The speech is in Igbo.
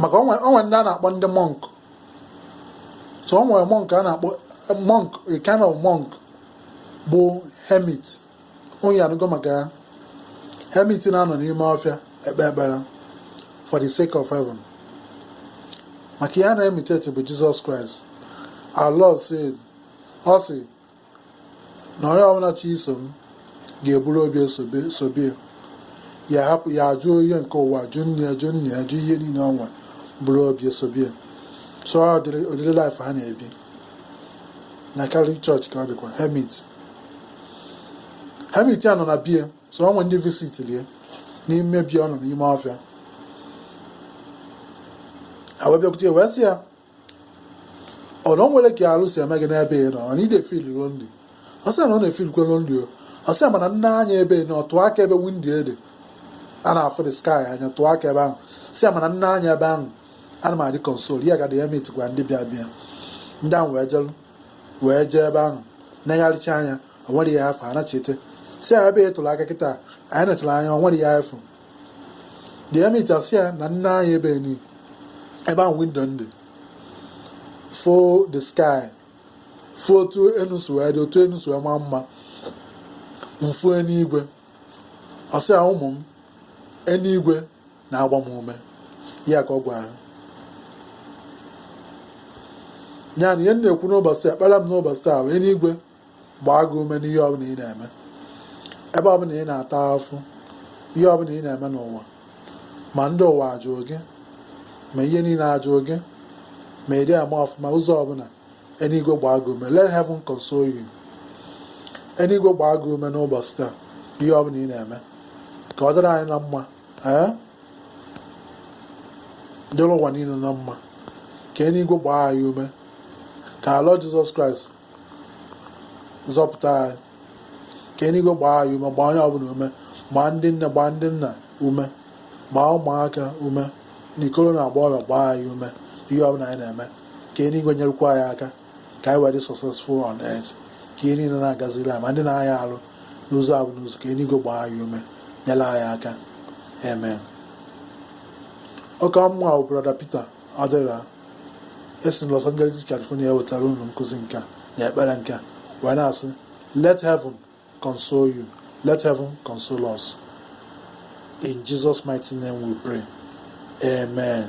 maka o nwe ndị a na-akpọ ndị monk so o nwe monk a na-akpọ monk a kind of monk bụ hermit onye anụgo maka hermit na-anọ n'ime ọfịa ekpe ekpere for the sake of heaven maka ihe a na-imitate bụ Jesus Christ our lord said ọ sị na onye ọbụla chọ iso m ga-eburu obe sobe ya hapụ ya ajụ ihe nke ụwa jụ nne ya jụ nna ya jụ ihe niile o nwe buru obe sobe so ụdịrị life ha na-ebi na Catholic Church ka ọ dịkwa hermit hermit a nọ na be ya so o nwe ndị visitili ya n'ime be ya ọ nọ n'ime ọfịa ha wee bịakwute wee sị ya ọ na o nwere ka arụ si eme gị n'ebe ị nọ mana ị na-efeel lonely ọ sị na ọ na-efeelkwa lonely o ọ sị mana m nee anya ebe ni ọ tụọ aka ebe window dị a na-afụ the sky anya tụọ aka ebe ahụ sị ya mana m nee anya ebe ahụ ana m adị consoled ya gadị ya metikwa ndị bịa bịa ndị ahụ wee jelu wee jee ebe ahụ negharịcha anya o nwerọ ihe a fụ ha nachite sị ya ebe ị tụrụ aka kịta anyị netụrụ anya o nwerọ ihe a fụ The hermit asị ya na m nee anya ebe ni ebe ahụ window dị fụ the sky fụ otu enu si wee dị otu enu si wee maa mma m fụ eluigwe ọ sị ya ụmụ m eluigwe na-agba m ume ya ka ọ gwa ha ya na ihe m na-ekwu n'ụbọchị taa ekpere m n'ụbọchị taa bụ eluigwe gbaa gị ume n'ihe ọbụla ị na-eme ebe ọbụla ị na-ata afụfụ ihe ọbụla ị na-eme n'ụwa ma ndị ụwa ajụrụ gị ma ihe niile ajụrụ gị ma ị dị ama ọfụma ụzọ ọbụla eluigwe gbaa gị ume let heaven console you eluigwe gbaa gị ume n'ụbọchị taa ihe ọbụla ị na-eme ka ọ dịrị anyị na mma ee dịrị ụwa niile na mma ka eluigwe gbaa anyị ume ka our Lord Jesus Christ zọpụta anyị ka eluigwe gbaa anyị ume gbaa onye ọbụla ume gbaa ndị nne gbaa ndị nna ume gbaa ụmụaka ume na ikoro na agbọghọbịa gbaa anyị ume ihe ọbụla anyị na-eme ka eluigwe nyerekwa anyị aka ka anyị wee dị successful on earth ka ihe niile na-agaziri anyị ma ndị na-aya arụ n'ụzọ abụ n'ụzọ ka eluigwe gbaa anyị ume nyere anyị aka amen ọkwa mụ bụ brother Peter Odera esi na Los Angeles California wetara unu nkụzi nke a na ekpere nke a wee na-asị let heaven console you let heaven console us in Jesus mighty name we pray amen